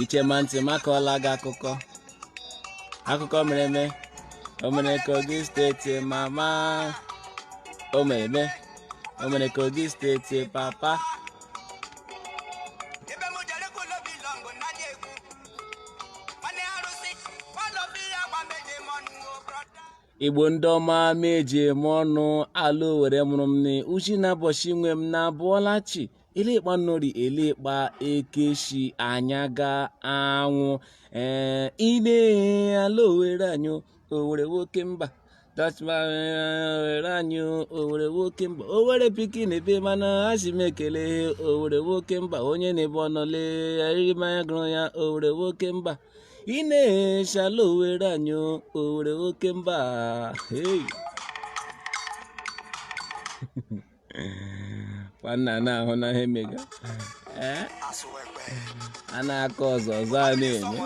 i chee ma ntị m akọọla gị akụkọ akụkọ mere eme o mere kogi steeti mama o mere eme o mere kogi steeti papa igbo ndị ọma m ji eme ọnụ ala owere mụrụ m na uchi na abọchi nwe m na abọọla chi elekpa nnọri elekpa ekeshi anya ga anwụ ee ị na-ehe ala owere anyị owere nwoke mba owere anyị owere nwoke mba owere pikin ebe mana asị m ekele owere nwoke mba onye na-ebe ọnọle eriri mmanya gụrụ ya owere nwoke mba ị na-ehe ala owere anyị owere nwoke mba hey. nwanna na-ahụ na ihe mega eh? a na-akọ ọzọ ọzọ a na-eme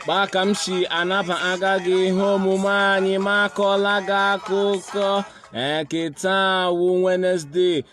kpaa ka m si anaba aga gị ihe omume anyị m akọọla gị akụkọ ke taa wụ Wednesday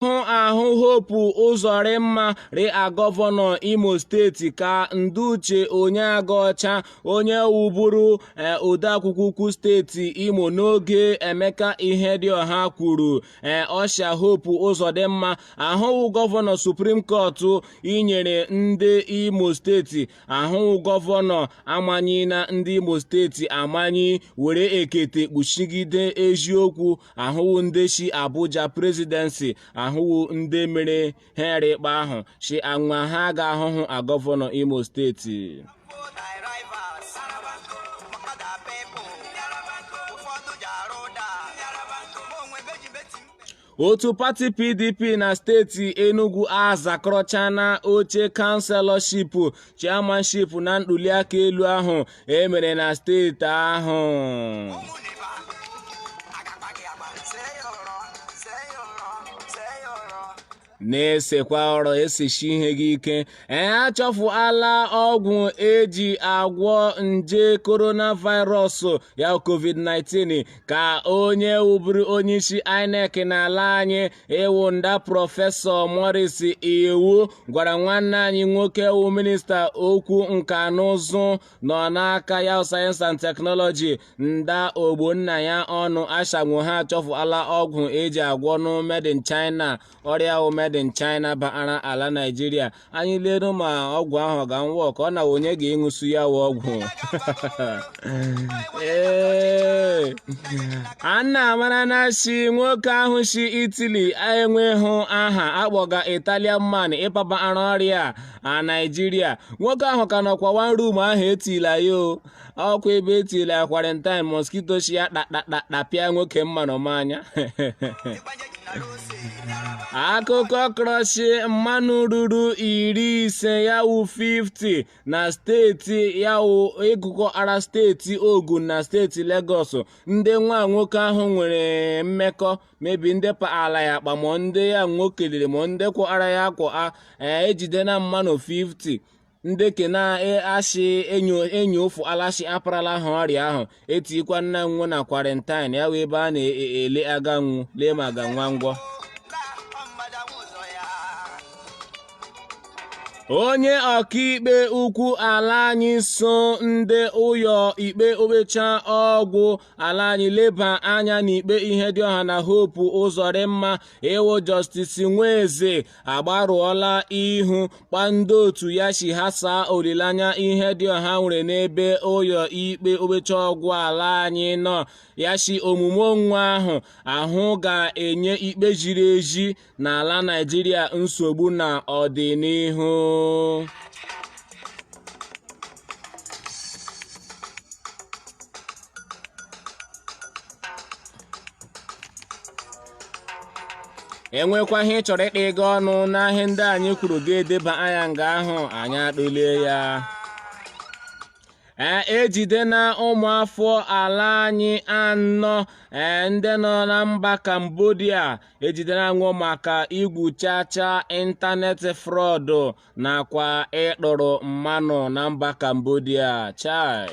hụ ahụ hopu ụzọrịmma rịa gọvanọ imo steeti ka nda uche onyeagọcha onye wụburu e, odeakwụkwọ ukwu steeti imo n'oge emeka ihedioha kwuru e, ọ shị a hopu ụzọdịmma ahụwụ gọvanọ suprim kọtụ nyere ndị imo steeti ahụwụ gọvanọ amanyi na ndị imo steeti amanyi were ekete kpuchigide eziokwu ahụwụ ndị si abuja prezidensi ahụwụ ndị mere ha ikpe ahụ si anwa ha ga ahụhụ a gọvanọ imo steeti otu pati pdp na steeti enugu azakọrọchana oche kanselọship chairmanship na ntuliaka elu ahụ e mere na steeti ahụ na-esekwa ọrụ esichi ihe gị ike ee achọfụala ọgwụ eji agwọ nje coronavirus ya covid-19 ka onye wụburu onyeisi INEC n'ala anyị wụ nda prọfesọ Maurice Iwu gwara nwanne anyị nwoke wụ minista okwu nka na ụzụ nọ n'aka ya sayensị and teknọlọji nda ogbonnaya ọnụ ashanwu ha achọfụala ọgwụ eji agwọ nụ made in China ọrịa wụ made in China bara ala Naijiria anyị leru ma ọgwụ ahụ ọ ga-anwụ ọka ọ na onye ga-eṅụsu ya wụ ọgwụ ee anna amara na shi nwoke ahụ shi Italy enwehụ aha akpọga italian man ịpabara ọrịa a naijiria nwoke ahụ ka nọkwa one room ahụ etila ya o ọkwa ebe etiri ya kwarịntaịn moskito shi ya tapịa nwoke mmanụ ma anya akụkọ kọrọ shi mmanụ ruru iri ise ya wụ 50 na steeti ya wụ ịgụkọ ara steeti ogun na steeti legọs ndị nwa nwoke ahụ nwere mmekọ maybe ndị paala ya akpa ma ndị ya nwo keliri ma ndị kwụ ara ya kwụ a ejidena mmanụ 50 nde ke na-achị enyo enyo ụfụ ala shi aparala ha ọrịa ahụ etikwanna nwo na kwarentain ya wụ ebe a na-ele aga nwo lee ma aga nwo agwọ onye ọkaikpe ukwu ala anyị so ndị ụyọ ikpe okpecha ọgwụ ala anyị leba anya n'ikpe Ihedioha na Hope Ụzọdịmma ya wụ justice nweze agbarụọla ihu kpa ndị otu ya si ghasaa olileanya Ihedioha nwere n'ebe ụyọ ikpe okpecha ọgwụ ala anyị nọ ya si omume nwo ahụ ahụ ga-enye ikpe ziri ezi n'ala Naịjirịa nsogbu na ọdịnihu enwekwa ihe ị chọrọ ịtịga ọnụ n'ihe ndị anyị kwuru gị edebanye ya nga ahụ anyị atụlee ya ee ejidena ụmụafọ ala anyị anọ ee ndị nọ na mba Cambodia ejidela nwo maka igwu chacha ịntanetị frọdụ nakwa ịtọrọ mmanụ na mba Cambodia chai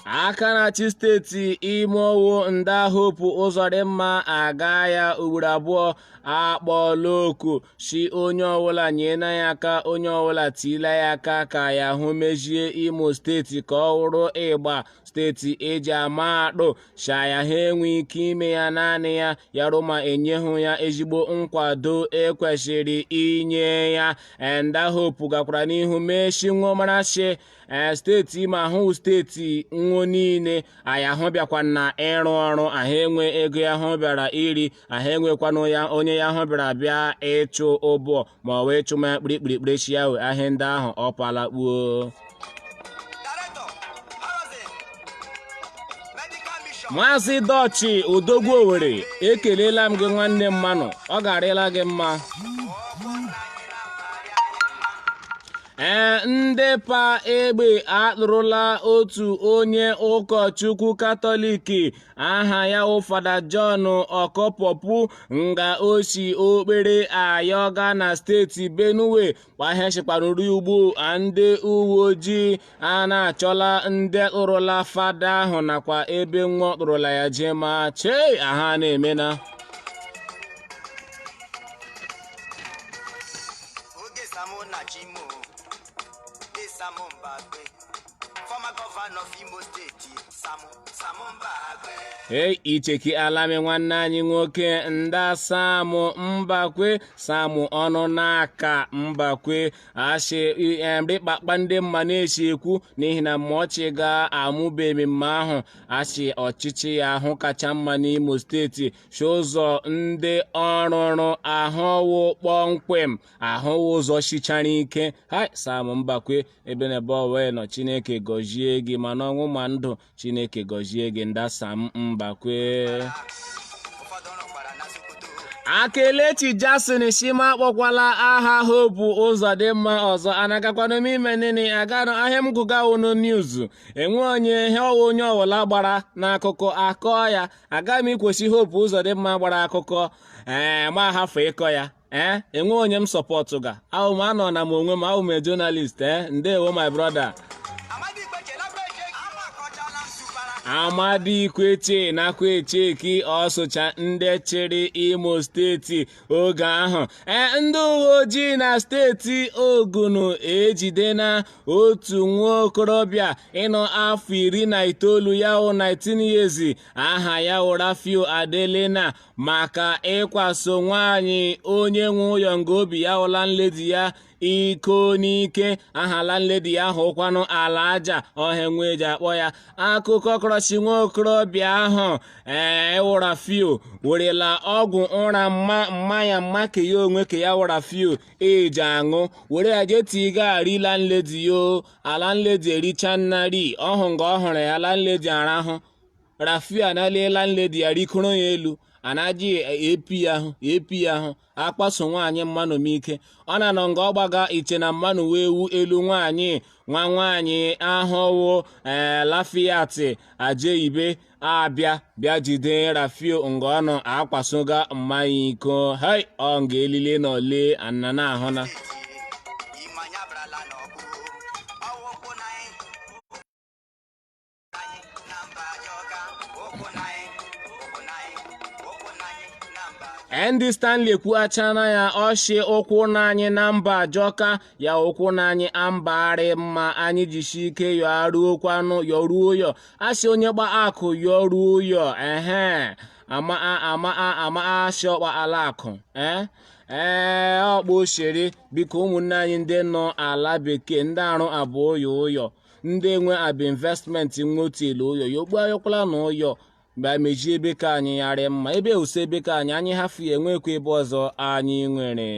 aka na-achị steeti Imo wụ nda Hope ụzọdịmma aga ya ugboro abụọ akpọọla oku si onye ọbụla nyena ya aka onye ọbụla tiila ya aka ka ya hụ mezie imo steeti ka ọ wụrụ ịgba steeti eji ama atụ shi ya aha enwe ike ime ya naanị ya ya wụrụ ma enyehụ ya ezigbo nkwado ekwesịrị inye ya nda hope gakwara n'ihu mee shi nwo mara shi ee steeti Imo wụ steeti nwo niile a ya hụ bịakwa na ịrụ ọrụ ahụ enwe ego ya hụ bịara iri ahụ enwekwanụ ya onye ya hụ bịara bịa ịchụ ọbọ ma ọ wụ ịchụma ya kpirikpirikpiri shi ya wee ahịa ndị ahụ ọ pala kpuo maazị dọchi odogwu owere ekelela m gị nwanne mmanụ ọ ga-arịla gị mma ee ndị pa egbe akpụrụla otu onye ụkọchukwu katọliki aha ya wụ fada John Ọkọpọpụ nga o si okpere ayọga na steeti Benue kpa ihe shikwanụ rị ugbu a ndị uwe ojii a na-achọla ndị kpụrụla fada ahụ nakwa ebe nwa kpụrụla ya jema chei aha na-emena former governor of Imo State, Sam Sam Mbakwe. Hey, icheki alami nwanne anyị nwoke nda Sam Mbakwe Sam Onunaka Mbakwe a sị emri kpakpa ndị mma na-esi ekwu n'ihi na ma ọchị ga-amụba ememme ahụ a sị ọchịchị ya ahụ kacha mma n'imo steeti sị ụzọ ndị ọ rụrụ ahụ wụ kpọmkwem ahụ wụ ụzọ sichara ike hai Sam Mbakwe ebe n'ebe ọwa nọ chineke gọzie gị ma n'ọnwụ ma ndụ chineke gọzie gị nda Sam Mbakwe a Kelechi Jason shị m akpọkwala aha Hope Uzodimma ọzọ anagakwanụ m ime nini aganụ ihe a m gụga wụnụ news enwe onye ihe ọ wụ onye ọwụla gbara n'akụkọ a kọọ ya aga m ikwu sị Hope Uzodimma gbara akụkọ ee m ahafụ ịkọ ya ee eh, enwe onye m sọpọtụga awụ m anọ na m onwe m awụ m a journalist ee eh, ndewo my brother Amadi Ikwechegh nakwa echeki ọsụcha ndị chịrị imo steeti oge ahụ ee eh, ndị uwe ojii na steeti ogun ejidena otu nwa okorobịa ịnọ afọ iri na itoolu ya wụ 19 years aha ya wụ Rafiu Adelena maka ịkwaso nwaanyị onye nwe ụyọ nga o bi ya wụ landlady ya iko n'ike aha landlady ahụkwanụ Alhaja ọ wụ ihe nwe ji akpọ ya akụkọ kọrọ shị nwa okorobịa ahụ ee wụ Rafiu werela ọgwụ ụra mma mma ya ma ke ya onwe ke ya wụ Rafiu ji aṅụ were ya jee tigaa ri landlady ya o landlady erichana ri ọhụ nga ọ hụrụ ya landlady arahụ Rafio analie landlady ya rikoro ya elu a na-ajị ap ahụ ap ahụ akpaso nwaanyị mmanụ ike ọ na-anọ nga ọ gbaga iche na mmanụ wee wu elu nwaanyị nwa nwaanyị ahụ wụ ee Lafiat Ajeibe abịa bịa jide Rafio nga ọ nọ akpasoga mma ya iko hei ọ nga elile na ole anna na ahụna Ndị Stanley ekwuachana ya ọ shị ụkwụ na anyị na mba ajọka ya ụkwụ na anyị a mba arị mma anyị jisi ike yọ aruokwanụ yọruo ụyọ asị onye kpa akụ yọruo ụyọ ehe ama ama ama asị ọkpa ala akụ ee ee ọkpa osiri biko ụmụnne anyị ndị nọ ala bekee ndị arụ abụ ụyọ ụyọ ndị enwe abụ investmenti nwe otu elu ụyọ ya okpu ayọkwala na ụyọ mgbe a mejie ebe ka anyị yarị mma ebe ewusa ebe ka anyị anyị hafụ ya enwekwa ebe ọzọ anyị nwere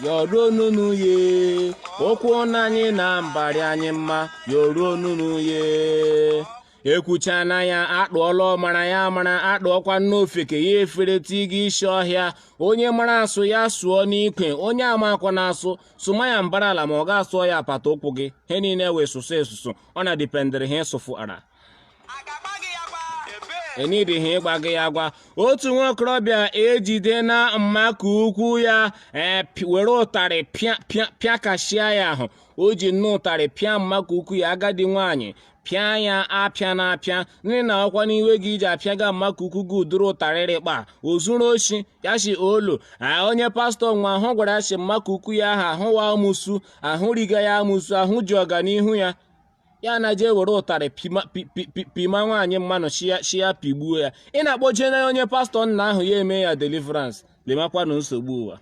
yọruo nunu ye okwu na anyị na mba arị anyị mma yọruo nunu ye ekwuchana ya atụọla ọmara ya mara atụọkwa n'ofeke ya efere tiga isi ọhịa onye mara asụ ya sụọ n'ikwe onye amakwa na asụ sụma ya mbara ala ma ọ ga-asụọ ya apata ụkwụ gị he niile wee sụsụ esusu ọ na dipendịrị ha ịsụfụ ara enidighi ịgba gị ya gwa otu nwa okorobịa ejidena mmaka ukwu ya eh, were ụtarị pịakashia ya ahụ o ji nne ụtarị pịa mmaka ukwu ya agadi nwaanyị pịa ya apịa na apịa nna ọ wụkwanị iwe gị i ji apịaga mma ka ukwu gị ụdịrị ụtarị rị kpa o zuru oshi ya shi olo onye pastọ nwa ahụ gwara ya shi mma ka ukwu ya ahụ ahụ wụ amụsu ahụ riga ya amụsu ahụ ji ọganihu ya ya na jee were ụtarị pịma nwaanyị mmanụ shi ya pịgbuo ya ị na-akpọje na onye pastọ nna ahụ ya eme ya deliverance lemakwanụ nsogbu ụwa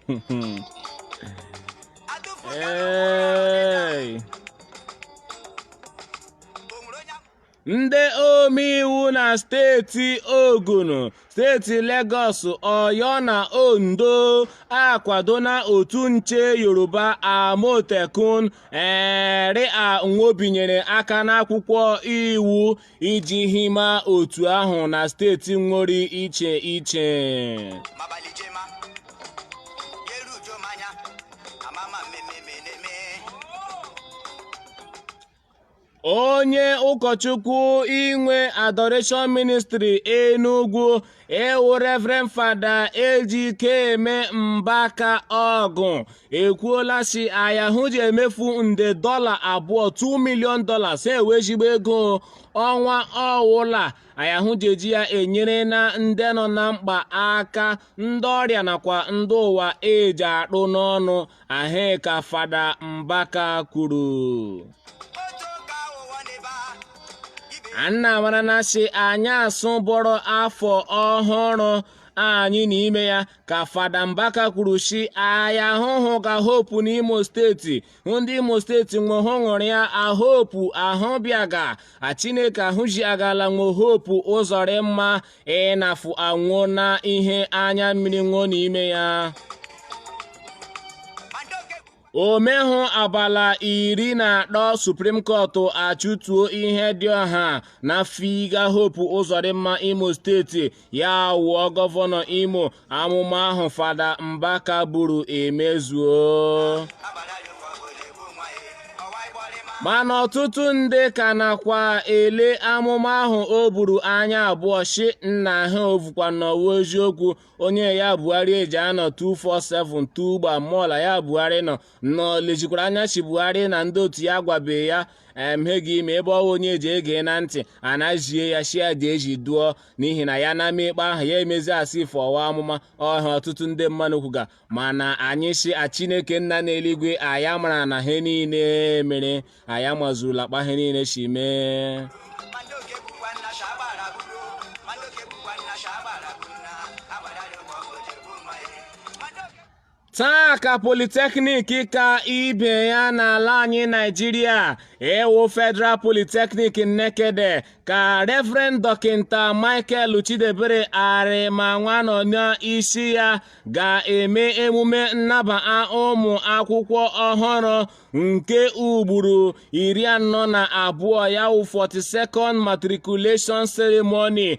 ndị omeiwu na steeti Ogun steeti Lagos Oyo na Ondo akwadona otu nche Yoruba Amotekun eri a nwo binyere aka n'akwụkwọ iwu iji hima otu ahụ na steeti nwo rị iche iche onye ụkọchukwu nwe Adoration Ministry Enugwu ịwụ Reverend Fada Ejikeme Mbaka Ọgụ ekwuola si ayahụ ji emefu nde dọla abụọ 2 million dollars ịwụ ezigbo ego ọnwa ọ wụla ayahụ ji eji ya enyere na ndị nọ na mkpa aka ndị ọrịa nakwa ndị ụwa eji atụ n'ọnụ ahụ ka fada mbaka kwuru anna marana si anyasụ bọrọ afọ ọhụrụ anyị nọ n'ime ya ka fada mbaka kwuru si aya hụhụga hope n'imo steeti ndị imo steeti nwehụ ṅụrịa a hope ahụ bịaga a chineke ahụ ji agala nwe hope ụzọdịmma ịnafụ anwụọ na ihe anya mmiri ṅụọ n'ime ya o mehụ abala iri na atọ supreme court achụtuo ihedịọha na figa hope ụzọdịmma imo steeti ya wụọ gọvanọ imo amụma ahụ fada mbaka buru emezuo mana ọtụtụ ndị ka nakwa-ele amụma ahụ o buru anya abụọ shi nna ha ovukwa na ọ wụ eziokwu onye ya buhari eji anọ 247 tugba mola ya buhari nọ nọ lezikwara anya shi buhari na ndị otu ya gwabe ya mhe ga-eme ebe ọ wụ onye eji ege na ntị anazie ya shi a dị eji duo n'ihi na ya na-ama ikpe ahụ ya emezi a sị ife ọ wụ amụma ọha ọtụtụ ndị mmadụ kwuga mana anyị si a chineke nna n'eluigwe aya marana he niile mere aya mazurula kpa he niile si mee taa ka polytechnic ka ibe ya n'ala anyị naijiria ịwụ federal polytechnic nekede ka reverend dọkịta michael chidiebere arịmanwa nọ n'isi ya ga-eme emume nnaba ụmụ akwụkwọ ọhụrụ nke ugboro iri anọ na abụọ ya wụ 42nd matriculation ceremony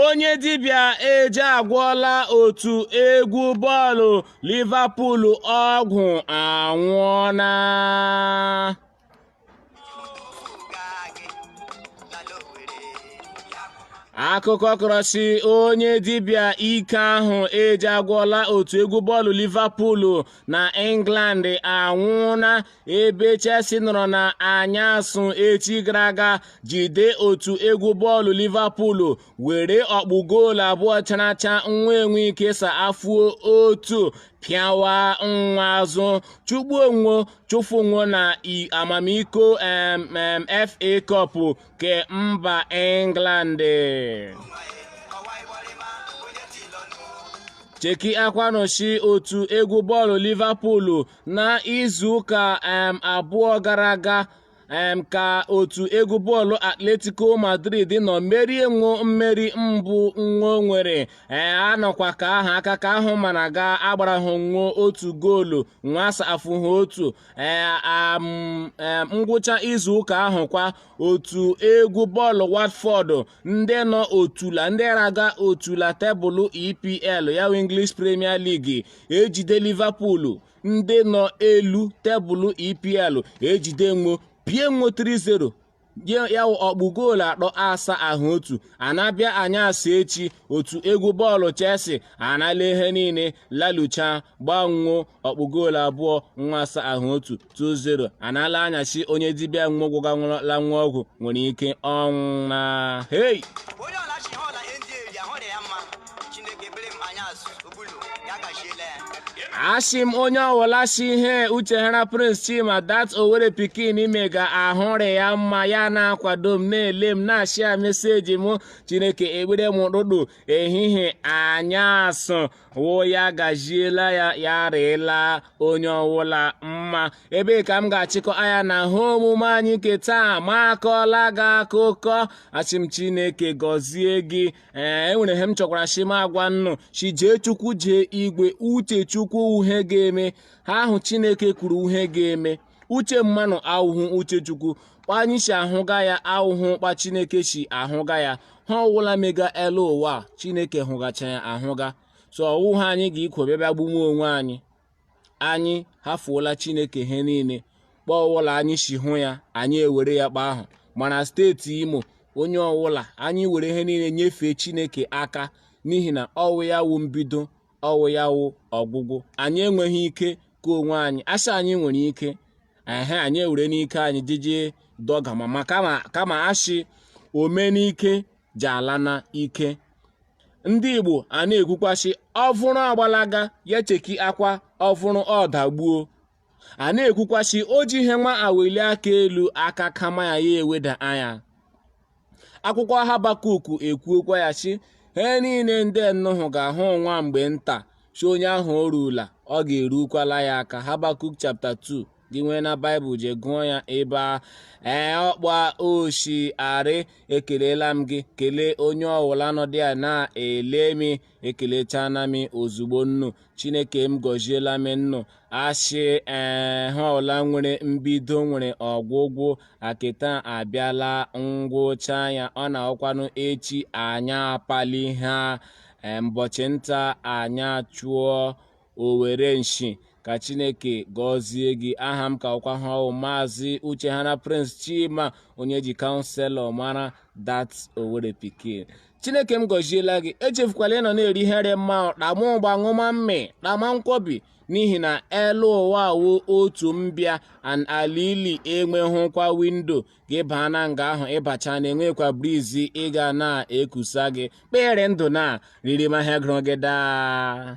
onye dibịa eji agwọla otu egwu bọọlụ Liverpool ọgwụ anwụọla akụkọ kọrọ sị onye dibịa ike ahụ eji agwọla otu egwu bọọlụ Liverpool na England anwụọna ebe Chelsea nọrọ na anyasụ echi gara aga jide otu egwu bọọlụ Liverpool were ọkpụ goolu abụọ characha nwa enwe ike safuo otu pịawa nwa azụ chụgbuo nwo chụfuo nwo na amamiko FA Cup ke mba England chekiakwanụ si otu egwu bọọlụ Liverpool na izuụka um abụọ gara aga um ka otu egwu bọọlụ Atletico Madrid nọ merie nwo mmeri mbụ nwo nwere ee anọkwa ka ahụ aka ka ahụ mana ga agbara ha nwo otu goolu nwa asafụ ha otu ee um, um, ngwụcha izuụka ahụ kwa otu egwu bọọlụ Watford ndị nọ otula ndị raga otula tebụlụ EPL ya wụ English Premier League ejide Liverpool ndị nọ elu tebụlụ EPL ejide nwo pịa nwo 3-0 ya ọkpụ goolu atọ asahụ otu a na-abịa anyasụ echi otu egwu bọọlụ Chelsea anala ihe niile lalucha gba nwo ọkpụ goolu abụọ nwa asahụ otu 2-0 anala anya si onye dibịa nwa gwọga nwụrụla nwa ọgwụ nwere ike ọnwụ na hei asị m onye ọwụla si ihe Uchehara Prince Chima dat Owere pikin mega ahụ rị ya mma ya na-akwado m na-ele m na-ashịa meseji m chineke ekpere m ụtụtụ ehihie anyasụ wụ ya gajiela ya ya rịịla onye ọwụla mma ebe a ka m ga-achịkọ anya na ihe omume anyị nke taa m akọọla gị akụkọ asị m chineke gọzie gị ee enwere ihe m chọkwara si m agwa ụnụ si jee chukwu jee igwe uche chukwu wụ ihe ga-eme ihe ahụ chineke kwuru wụ ihe ga-eme uche mmanụ awụhụ uche chukwu kpa anyị si ahụga ya awụhụ kpa chineke si ahụga ya ihe ọwụla mega elu ụwa chineke hụgacha ya ahụga so ọwụ ha anyị ga-ikwo bịa bịa gbuwe onwe anyị anyị hafuola chineke ihe niile kpa ọwụla anyị si hụ ya anyị ewere ya kpa ahụ mana steeti Imo onye ọwụla anyị were ihe niile nyefee chineke aka n'ihi na ọwụ ya wụ mbido ọwụ ya wụ ọgwụgwụ anyị enweghị ike ke onwe anyị asị anyị nwere ike ehe anyị ewere n'ike anyị jije dọgama kama asị ome n'ike ji ala na ike ndị Igbo a na-ekwukwa sị ovuru agbalaga ya chekiakwa ovuru ọdagbuo a na-ekwukwa sị o ji ihe nwa aweli aka elu aka kama ya ya eweda anya akwụkwọ habakuk ekwuokwa ya sị he niile ndị nnu hụga a wụ nwa mgbe nta si onye ahụ o ruola ọ ga-erukwala ya aka habakuk chapter 2 gị nwee na baịbụl je gụọ ya ebe a ee ọkpa oshi arị ekelela m gị kelee onye ọwụla nọdị ya na-ele m ekelechana m ozugbo nnu chineke m gọziela m nnu a sị ee he ọla nwere mbido nwere ọgwụgwụ akịta abịala ngwụcha ya ọ na-awụkwanụ echi anyị apali ha mbọchị nta anyị achụọ owere nshi ka chineke gọzie gị aha m ka wụkwa he ọ wụ maazị uchehana prince chima onye e ji counsellor mara dat owerri pikin chineke m gọziela gị echefukwala ị nọ na-eri ihe rị mma kpama ụgba ṅụma mmị kpama nkwobi n'ihi na elu ụwa a wụ otu mbịa and alili enweghịkwa window gị baa na nga ahụ ị bachana enwekwa breeze ga na-ekusa gị kpa ị rị ndụ na-eri rima he gụrụ gị daa